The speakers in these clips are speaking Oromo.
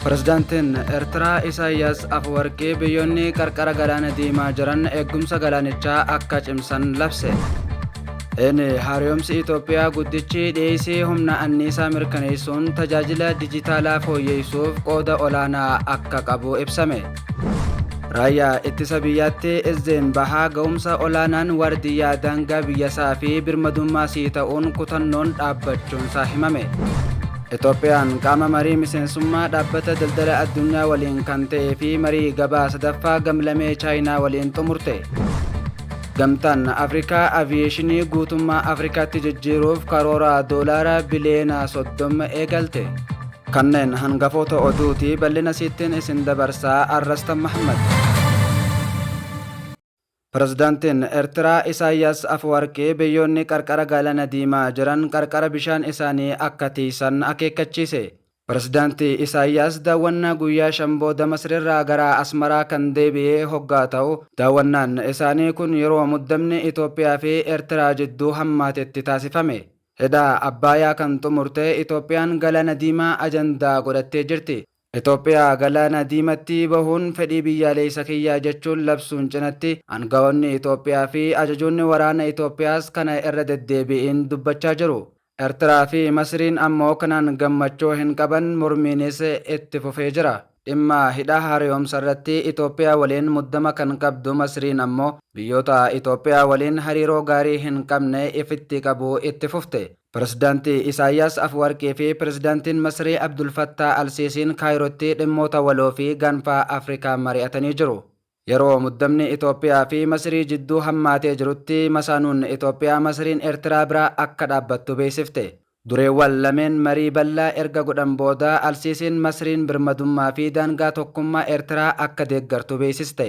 Pirezidaantiin Eertiraa Isaayyaas Afwarqii biyyoonni qarqara galaana diimaa jiran eegumsa galaanichaa akka cimsan labse. Inni haaromsi Itoophiyaa guddichi dhiyeessii humna anniisaa mirkaneessuun tajaajila dijitaalaa fooyyessuuf qooda olaanaa akka qabu ibsame. Raayyaa ittisa biyyaatti Izzeen Bahaa ga'umsa olaanaan waardiyyaa daangaa biyyasaa fi birmadummaa sii ta'uun kutannoon dhaabbachuunsaa himame. Itoophiyaan qaama marii miseensummaa dhaabbata daldala addunyaa waliin kan ta'ee fi marii gabaa sadaffaa gamlamee chaayinaa waliin xumurte. Gamtaan Afrikaa aviyeeshinii guutummaa Afrikaatti jijjiiruuf karoora doolaara biliyoona 30 eegalte. Kanneen hangafoota oduuti bal'ina siittiin isin dabarsaa Arrastan Mahammad. Pirezidantiin Ertiraa Isaayyaas Afawarqii biyyoonni qarqara Gaalana Diimaa jiran qarqara bishaan isaanii akka tiysan akeekkachiise. Pirezidanti Isaayyaas daawwannaa guyyaa shan booda Masriirraa gara Asmaraa kan deebi'e hoggaa ta'u, daawwannaan isaanii kun yeroo muddamni Itoophiyaa fi Ertiraa jidduu hammaatetti taasifame. Hidha Abbaayaa kan xumurte Itoophiyaan Galaana Diimaa ajandaa godhattee jirti. Itoophiyaa galaana diimatti bahuun fedhii biyyaaleessa kiyyaa jechuun labsuun cinatti angawoonni Itoophiyaa fi ajajoonni waraana Itoophiyaas kana irra deddeebi'iin dubbachaa jiru. Ertiraa fi Masriin ammoo kanaan gammachuu hin qaban mormiinis itti fufee jira. Dhimma hidha hareyoomsarratti Itoophiyaa waliin muddama kan qabdu Masriin ammoo biyyoota Itoophiyaa waliin hariiroo gaarii hin qabne ifitti qabuu itti fufte. Pirezidaanti Isaayyaas Afwarqii fi Pirezidaantiin Masrii Abdul Fattaa Al Siisiin Kaayirootti dhimmoota waloo fi gaanfaa Afrikaa mari'atanii jiru. Yeroo muddamni Itoophiyaa fi Masrii jidduu hammaatee jirutti masaanuun Itoophiyaa Masriin Ertiraa bira akka dhaabbattu beeksifte. Dureewwan lameen marii bal'aa erga godhan booda Al Siisiin Masriin birmadummaa fi daangaa tokkummaa Ertiraa akka deeggartu beeksiste.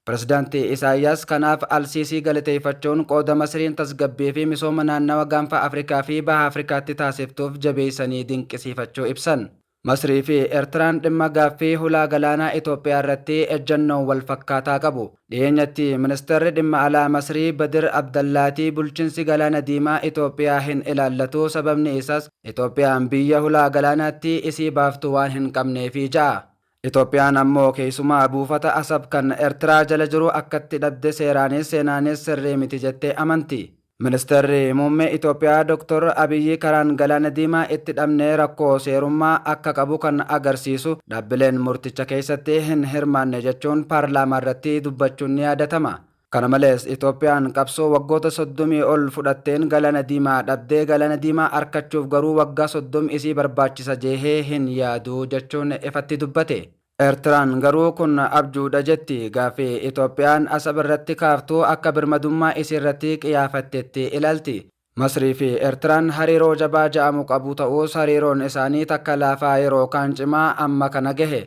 Pirezidaant Isaayyaas kanaaf Al-Siisii galateeffachuun, qooda Masriin tasgabbii fi misooma naannawa Gaanfa Afrikaa fi Baha Afrikaatti taasiftuuf jabeessanii dinqisiifachuu ibsan. Masrii fi Ertiraan dhimma gaaffii hulaa galaanaa Itoophiyaa irratti ejjannoo wal fakkaataa qabu. Dhiyeenyatti Ministeerri Dhimma Alaa Masrii Badir Abdallaati bulchinsi Galaana Diimaa Itoophiyaa hin ilaallatu, sababni isaas Itoophiyaan biyya hulaa galaanaatti isii baaftu waan hin qabneefi ja'a. Itoophiyaan ammoo keessumaa buufata Asab kan Ertiraa jala jiru akkatti dhabde seeraanis seenaanis sirrii miti jettee amanti. Ministeerri Muummee Itoophiyaa Doktor Abiyyi karaan Galaana Diimaa itti dhabne rakkoo seerummaa akka qabu kan agarsiisu dhaabbileen murticha keessatti hin hirmaanne jechuun paarlaamaarratti dubbachuun ni yaadatama. Kana malees, Itoophiyaan qabsoo waggoota soddomii ol fudhatteen Galaana Diimaa dhabdee Galaana Diimaa arkachuuf garuu waggaa soddom isii barbaachisa jeehee hin yaadu jechuun ifatti dubbate. Ertiraan garuu kun abjuudha jetti. Gaaffii Itoophiyaan Asab irratti kaaftu akka birmadummaa isiirratti qiyaafattetti ilalti. Masrii fi Ertiraan hariiroo jabaa ja'amu qabu ta'uus hariiroon isaanii takka laafaa yeroo kaan cimaa amma kana gahe.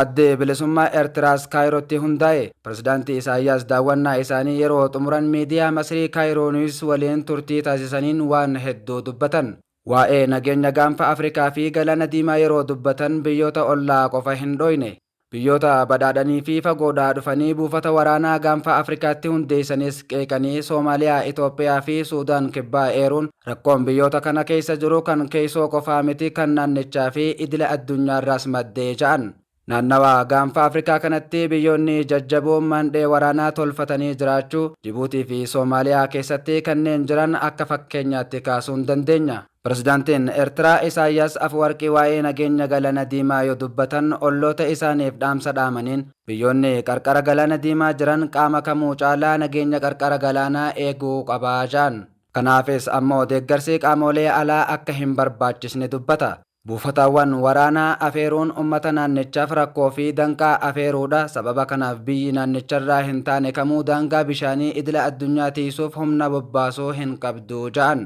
Addi Bilisummaa Ertiraas Kaayirootti hundaa'e. Pirezidaanti Isaayyaas daawwannaa isaanii yeroo xumuran miidiyaa Masrii Kaayiroo Niwuus waliin turtii taasisaniin waan hedduu dubbatan. Waa'ee nageenya Gaanfa Afrikaa fi Galaana Diimaa yeroo dubbatan biyyoota ollaa qofa hin dhooyne. Biyyoota badhaadhanii fi fagoodhaa dhufanii buufata waraanaa Gaanfa Afrikaatti hundeessanis qeeqanii Soomaaliyaa, Itoophiyaa fi Suudaan Kibbaa eeruun rakkoon biyyoota kana keessa jiru kan keeysoo qofaa miti kan naannichaa fi idila addunyaarraas madde ja'an. Naannawa Gaanfa Afrikaa kanatti biyyoonni jajjaboon maandhee waraanaa tolfatanii jiraachuu Jibuutii fi Soomaaliyaa keessatti kanneen jiran akka fakkeenyaatti kaasuun dandeenya. Pirezidaantiin Ertiraa Isaayyaas Afuwarqii waa'ee nageenya Galana Diimaa yoo dubbatan olloota isaaniif dhaamsa dhaamaniin, biyyoonni qarqara Galaana Diimaa jiran qaama kamuu caalaa nageenya qarqara galaanaa eeguu qaba jedhan. Kanaafis ammoo deeggarsi qaamoolee alaa akka hin barbaachisne dubbata. Buufataawwan waraanaa afeeruun ummata naannichaaf rakkoo fi danqaa afeeruudha, sababa kanaaf biyyi naannicharraa hin taane kamuu daangaa bishaanii idila addunyaa tiysuuf humna bobbaasu hin qabdu jedhan.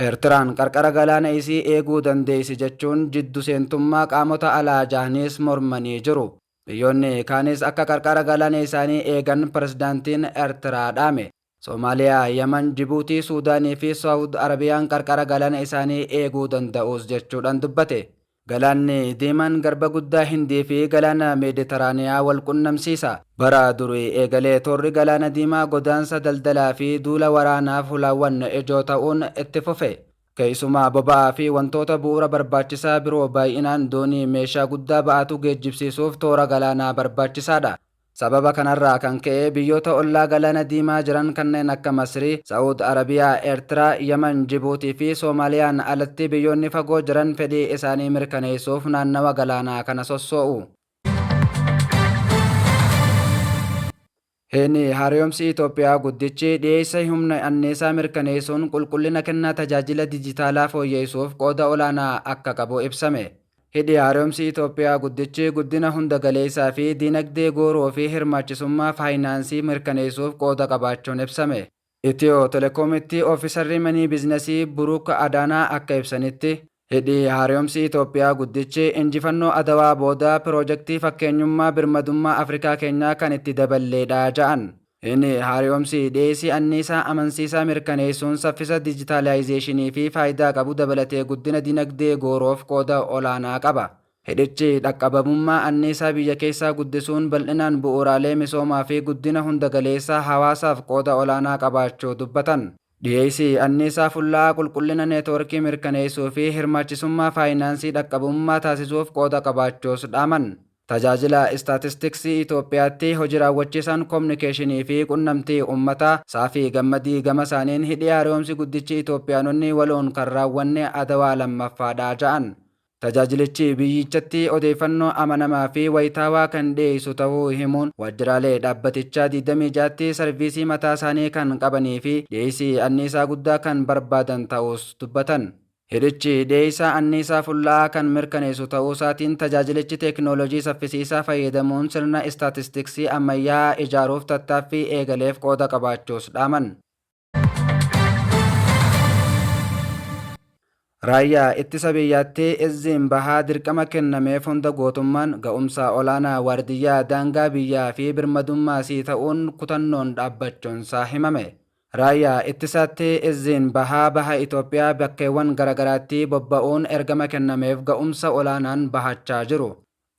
Ertiraan qarqara galaana isii eeguu dandeessi jechuun jiddu seentummaa qaamota alaa jahaniis mormanii jiru. Biyyoonni kaanis akka qarqara galaana isaanii eegan Pirezidaantiin Ertiraa dhaame. Somaaliyaa, Yaman, Jibuutii, Suudaanii fi Sawud Arabiyaan qarqara galaana isaanii eeguu danda'uus jechuudhan dubbate. Galaanni Diimaan Garba Guddaa Hindii fi Galaana Meediteraaniyaa wal qunnamsiisa. Bara durii eegalee toorri Galaana Diimaa godaansa daldalaa fi duula waraanaaf hulaawwan ijoo ta'uun itti fufe. Keessumaa boba'aa fi wantoota bu'uura barbaachisaa biroo baay'inaan doonii meeshaa guddaa ba'atu geejjibsiisuuf toora galaanaa barbaachisaadha. Sababa kanarraa kan ka'e biyyoota ollaa Galaana Diimaa jiran kanneen akka Masrii, Sa'ud Arabiyaa, Eertiraa, Yaman, Jibuutii fi Soomaaliyaan alatti biyyoonni fagoo jiran fedhii isaanii mirkaneessuuf naannawa galaanaa kana sossoo'u. Hin, Haarayomsi Itoophiyaa guddichi dhiyeessa humna anniisaa mirkaneessuun qulqullina kennaa tajaajila dijitaalaa fooyyeessuuf qooda olaanaa akka qabu ibsame. Hidhi Haaromsi Itoophiyaa Guddichi guddina hunda galeessaa fi diinagdee gooroo fi hirmaachisummaa faayinaansii mirkaneessuuf qooda qabaachuun ibsame. Itiyoo Telekoomitti Oofisarri Manii Biiznasii Buruuk Adaanaa akka ibsanitti, Hidhi Haaromsi Itoophiyaa Guddichi injifannoo Adawaa booda piroojektii fakkeenyummaa birmadummaa Afrikaa keenyaa kan itti daballeedha ja'an. Hin haariyomsi dhiyeessii anniisaa amansiisaa mirkaneessuun saffisa dijitaalaayizeeshinii fi faayidaa qabu dabalatee guddina dinagdee gooroof qooda olaanaa qaba. Hidhichi dhaqqabamummaa anniisaa biyya keessaa guddisuun bal'inaan bu'uuraalee misoomaa fi guddina hunda galeessaa hawaasaaf qooda olaanaa qabaachuu dubbatan. Dhiyeessii anniisaa fulla'aa qulqullina neetwoorkii mirkaneessuu fi hirmaachisummaa faayinaansii dhaqqabummaa taasisuuf qooda qabaachuus dhaaman. Tajaajila Istaatistiksii Itoophiyaatti Hoji Raawwachiisaan Komunikeeshinii fi Qunnamtii Ummataa Saafii Gammadii gama isaaniin Hidhi Haara'oomsi Guddichi Itoophiyaanonni waloon kan raawwanne Adawaa 2ffaa dha ja'an. Tajaajilichi biyyichatti odeeffannoo amanamaa fi wayitaawaa kan dhiyeessu tahuu himuun, waajjiraalee dhaabbatichaa 26tti sarviisii mataa isaanii kan qabanii fi dhiyeessii anniisaa guddaa kan barbaadan ta'uus dubbatan. Hidhichi dhiyeessaa anniisaa fulla'aa kan mirkaneessu ta'uusaatiin tajaajilichi teeknooloojii saffisiisaa fayyadamuun sirna istaatistiksii ammayyaa'aa ijaaruuf tattaaffii eegaleef qooda qabaachuus dhaaman. Raayyaa Ittisa Biyyaatti Izziin Bahaa dirqama kennameef hunda gootummaan, ga'umsa olaanaa waardiyyaa daangaa biyyaa fi birmadummaa sii ta'uun kutannoon dhaabbachuunsaa himame. Raayyaa Ittisaatti Izziin Bahaa Baha Itoophiyaa bakkeewwan garagaraatti bobba'uun ergama kennameef ga'umsa olaanaan bahachaa jiru.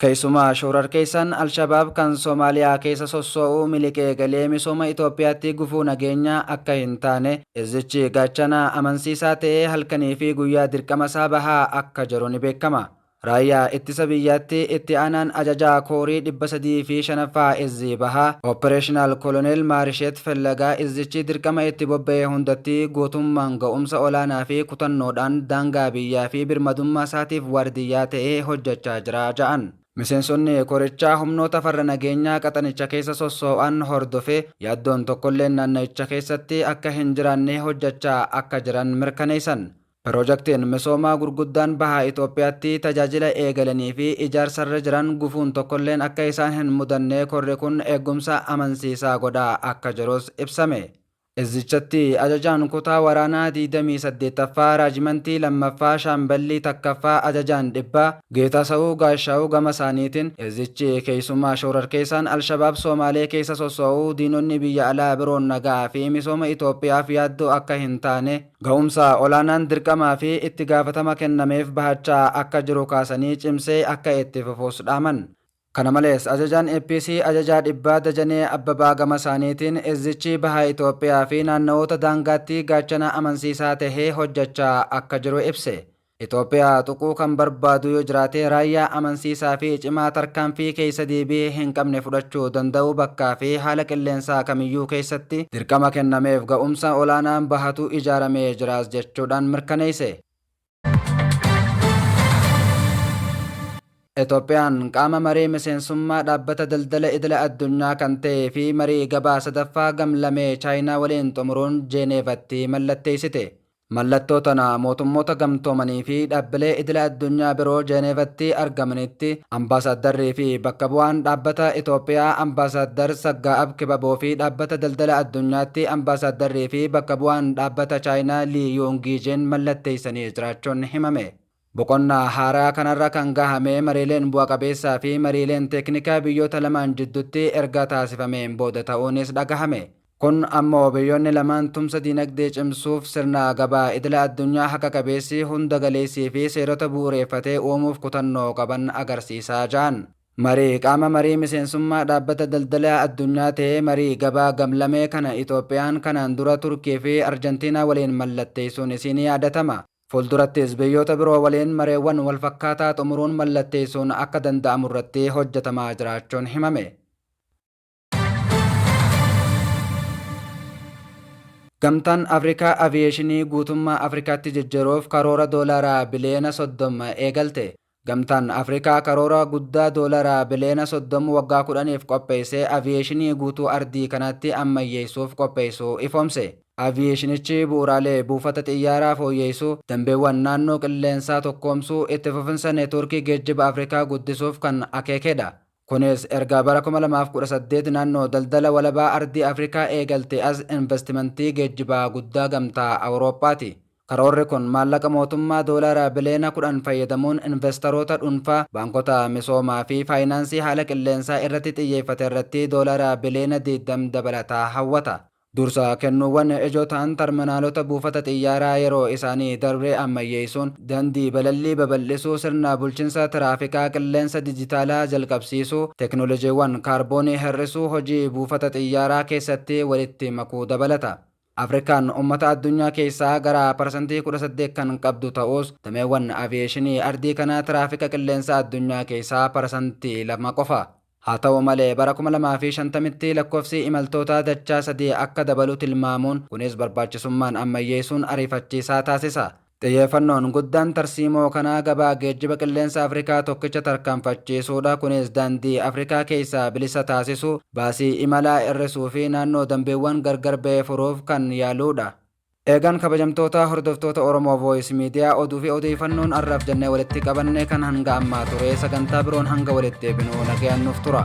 Keessumaa shoorarkeessaan Alshabaab kan Somaaliyaa keessa sossoo'u miliqee galee misooma Itoophiyaatti gufuu nageenyaa akka hin taane Izzichi gaachana amansiisaa ta'ee halkaniifi guyyaa dirqamasaa bahaa akka jiru ni beekama. Raayyaa Ittisa Biyyaatti Itti Aanaan Ajajaa Koorii 305ffaa Izzii Bahaa, Operational Koloneel Maarisheet Fellagaa Izzichi dirqama itti bobba'e hundatti gootummaan, ga'umsa olaanaa fi kutannoodhaan daangaa biyyaa fi birmadummaa isaatiif waardiyyaa ta'ee hojjechaa jira ja'an. Miseensonni korichaa humnoota farra nageenyaa qaxanicha keessa sossoo'an hordofee yaaddoon tokkolleen naanna'icha keessatti akka hin jiraannee hojjechaa akka jiran mirkaneessan. Piroojaktiin misoomaa gurguddaan Baha Itoophiyaatti tajaajila eegalanii fi ijaarsarra jiran gufuun tokkolleen akka isaan hin mudannee korri kun eeggumsa amansiisaa godhaa akka jirus ibsame. Izzichatti Ajajaan Kutaa Waraanaa 28ffaa Raajimantii 2ffaa Shaamballii 1ffaa Ajajaan Dhibbaa Geetaasawu Gaashaawu gamasaaniitiin, izzichi keessumaa shoorarkeessaan Alshabaab Soomaalee keessa sosso'u diinonni biyya alaa biroon nagaa fi misooma Itoophiyaaf yaaddoo akka hin taane, ga'umsa olaanaan dirqamaa fi itti gaafatama kennameef bahachaa akka jiru kaasanii cimsee akka itti fufus dhaaman. Kana malees Ajajaan APC Ajajaa Dhibbaa Dajanee Abbabaa gama isaaniitiin Izzichi Baha Itoophiyaa fi naannawoota daangaatti gaachana amansiisaa tahee hojjachaa akka jiru ibse. Itoophiyaa tuquu kan barbaadu yoo jiraate raayyaa amansiisaa fi cimaa tarkaanfii keessa deebii hin qabne fudhachuu danda'u bakkaa fi haala qilleensaa kamiyyuu keessatti dirqama kennameef ga'umsa olaanaan bahatu ijaaramee jiraas jechuudhaan mirkaneesse. Itoophiyaan qaama marii miseensummaa dhaabbata daldala idila addunyaa kan ta'ee fi marii gabaa sadaffaa gam-lamee Chaayinaa waliin xumuruun Jeeneevatti mallatteessite. Mallattoo tana Mootummoota Gamtoomanii fi dhaabbilee idila addunyaa biroo Jeeneevatti argamanitti Ambaasaaddarrii fi bakka bu'aan Dhaabbata Itoophiyaa Ambaasaaddar Saggaa'ab Kibaboo fi Dhaabbata Daldala Addunyaatti Ambaasaaddarrii fi bakka bu'aan Dhaabbata Chaayinaa Lii Yuungiijin mallatteessanii jiraachuun himame. Boqonnaa haaraa kanarra kan gahame mariileen bu'a qabeessaa fi mariileen teeknikaa biyyoota lamaan jiddutti erga taasifameen booda ta'uunis dhagahame. Kun ammoo biyyoonni lamaan tumsa diinagdee cimsuuf sirna gabaa idila addunyaa haqa qabeessi, hunda galeessii fi seerota bu'ureeffate uumuuf kutannoo qaban agarsiisa ja'an. Marii qaama marii miseensummaa Dhaabbata Daldalaa Addunyaa ta'e marii gabaa gamlamee kana Itoophiyaan kanaan dura Turkii fi Arjantiinaa waliin mallatteessuun isii ni yaadatama. Fuldurattis biyyoota biroo waliin mareewwan walfakkaataa xumuruun mallatteessuun akka danda'amurratti hojjetamaa jiraachuun himame. Gamtaan Afrikaa Aviyeeshinii guutummaa Afrikaatti jijjiiruuf karoora doolaara biliyoona 30 eegalte. Gamtaan Afrikaa karoora guddaa doolara biliyoona 30 waggaa 10f qopheessee aviyeeshinii guutuu ardii kanaatti ammayyeessuuf qopheessuu ifoomse. Aviyeeshinichi bu'uuraalee buufata xiyyaaraa fooyyeessuu, dambeewwan naannoo qilleensaa tokkoomsuu, itti fufinsa neetwoorkii geejjiba Afrikaa guddisuuf kan akeekedha. Kunis erga bara 2018 naannoo daldala walabaa ardii Afrikaa eegaltee as invastimantii geejjibaa guddaa Gamtaa Awuroophaati. Karoorri kun maallaqa mootummaa doolaara biliyoona 10 fayyadamuun invastaroota dhunfaa, baankota misoomaa fi faayinaansii haala qilleensaa irratti xiyyeeffaterratti doolaara biliyoona 20 dabalataa hawwata. Dursa kennuuwwan ijoo ta'an tarminaalota buufata xiyyaaraa yeroo isaanii darbe ammayyeessuun, dandii balallii babal'isuu, sirna bulchinsa tiraafikaa qilleensa dijitaalaa jalqabsiisuu, teknolojiiwwan kaarboonii hir'isuu hojii buufata xiyyaaraa keessatti walitti makuu dabalata. Afrikaan ummata addunyaa keessaa gara parsantii 18 kan qabdu ta'us, dameewwan aviyeeshinii ardii kanaa tiraafika qilleensaa addunyaa keessaa parasantii 2 qofa. Haa ta'u malee, bara 2050tti lakkofsi imaltootaa dachaa sadii akka dabalu tilmaamuun, kunis barbaachisummaan ammayyeessuun ariifachiisaa taasisa. Xiyyeeffannoon guddaan tarsiimoo kanaa gabaa geejjiba qilleensa Afrikaa tokkicha tarkaanfachiisuudha, kunis daandii Afrikaa keessaa bilisa taasisuu, baasii imalaa hir'isuu fi naannoo dambiiwwan gargar ba'e furuuf kan yaaluudha. Eegaan kabajamtoota hordoftoota Oromoo Voice Media oduu fi odeeyfannoon arraaf jennee walitti qabanne kan hanga ammaa ture sagantaa biroon hanga walitti deebinu nagayaan nuuf tura.